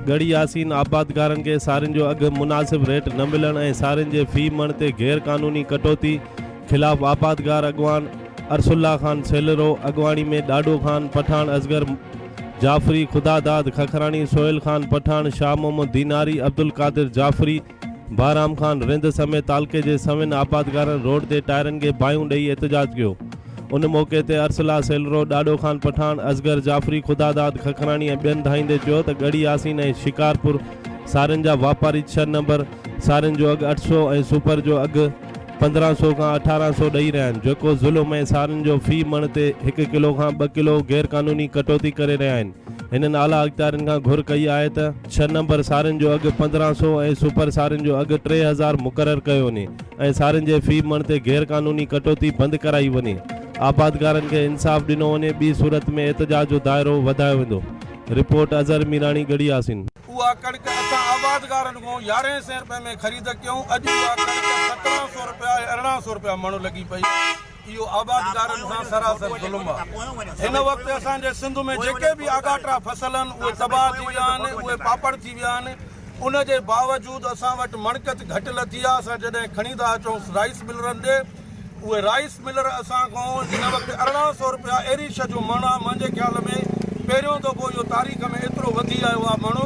ڳڙهي ياسين آبادگارن کي سارين جو اگهه مناسب ريٽ نه ملڻ ۽ سارين جي في مڻ تي غير قانوني ڪٽوتي خلاف آبادگار اڳواڻ ارسلا خان سيلرو اڳواڻي ۾ ڏاڏو خان، پٺاڻ اصغر، جعفري، خدا داد ککراڻي، سهيل خان پٺاڻ، شاهه محمد ديناري، عبدالقادر جعفري، بهرام خان رند سميت تعلقي جي سوين آبادگارن روڊ تي ٽائرن کي باهيون ڏئي احتجاج ڪيو. ان موقعي تي ارسلا سيلرو، ڏاڏو خان پٺاڻ، اصغر جعفري، خدا داد ککراڻي ۽ ٻين ڌائيندي چيو ته ڳڙهي ياسين ۽ شڪارپور سارين جا واپاري ڇهه نمبر سارين جو اگهه اٺ سؤ ۽ سپر جو اگهه پندرهن سو کان اٺارهن سو ڏئي رهيا آهن جيڪو ظلم ۽ سارين جو في مڻ تي هڪ ڪلو کان ٻه ڪلو غير قانوني ڪٽوتي ڪري رهيا آهن هنن اعليٰ اختيارين کان گهر ڪئي آهي ته ڇهه نمبر سارين جو اگهه پندرهن سو ۽ سپر سارين جو اگهه ٽي هزار مقرر ڪيو وڃي ۽ سارين جي في مڻ تي غير قانوني ڪٽوتي بند ڪرائي وڃي آبادگارن کي انصاف ڏنو وڃي ٻي صورت ۾ احتجاج جو دائرو وڌايو ويندو رپورٽ اظهر ميراڻي ڳڙهي آسين. اها ڪڻڪ اسان آبادگارن کان يارهين سين رپين ۾ خريد ڪيون، اڄ اها ڪڻڪ سترهن سئو رپيا ۽ ارڙهن سئو رپيا مڻ لڳي پئي، اهو آبادگارن سان سراسر ظلم آهي، هن وقت اسان جي سنڌ ۾ جيڪي به آڳاٽا فصل آهن اهي تباهه ٿي ويا آهن، اهي پاپڙ ٿي ويا آهن، ان جي باوجود اسان وٽ مڻڪت گهٽ لٿي آهي، اسان جڏهن کڻي ٿا اچون رائيس ملرن ڏي. اهي رائيس ملر اسان کان جنهن وقت ارڙهن سئو روپيا اهڙي شئي جو مڻ آ منهنجي خيال ۾ پهريون دفعو اهو تاريخ ۾ ايترو وڌي آيو آ مڻ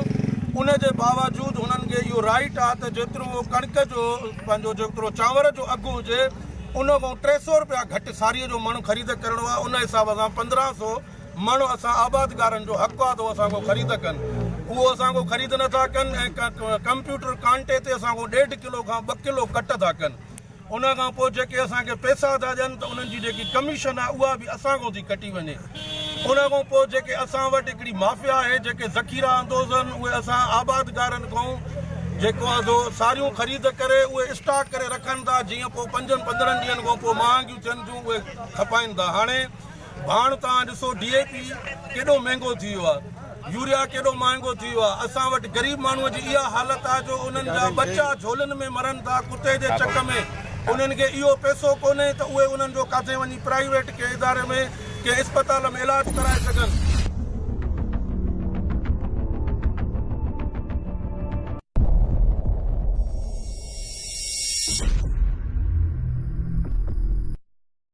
ان جي باوجود هنن کي اهو رائيٽ آ ته جيترو هو ڪڻڪ جو پنهنجو جيترو چانور جو اگهه هجي ان کان ٽي سئو روپيا گهٽ ساريء جو مڻ خريد ڪرڻو آ ان حساب سان پندرهن سئو مڻ اسان آبادگارن جو حق آ ته هو اسان کان خريد ڪن اهو اسان کان خريد نه ٿا ڪن ۽ ڪمپيوٽر ڪانٽي تي اسان کان ڏيڍ ڪلو کان ٻه ڪلو ڪٽ ٿا ڪن ان کان پوء جيڪي اسان کي پئسا ٿا ڏين ته انهن جي جيڪي ڪميشن آهي اها به اسان کان ٿي ڪٽي وڃي. ان کان پوء جيڪي اسان وٽ هڪڙي مافيا آهي جيڪي ذخيرا اندوز آهن اهي اسان آبادگارن کان جيڪو آهي سو ساريون خريد ڪري اهي اسٽاڪ ڪري رکن ٿا جيئن پوء پنجن پندرهن ڏينهن کان پوء مهانگيون ٿين ٿيون اهي کپائن ٿا. هاڻي ڀاڻ توهان ڏسو ڊي اي پي ڪيڏو مهنگو ٿي ويو آهي يوريا ڪيڏو مهانگو ٿي ويو آهي اسان وٽ غريب ماڻهو جي اها حالت آهي جو انهن جا ٻچا جهولن ۾ مرن ٿا ڪتي جي چڪ ۾ انهن کي اهو پئسو ڪونهي ته اهي انهن جو ڪاٿي وڃي پرائيويٽ ڪنهن اداري ۾ ڪنهن اسپتال ۾ علاج ڪرائي سگهن.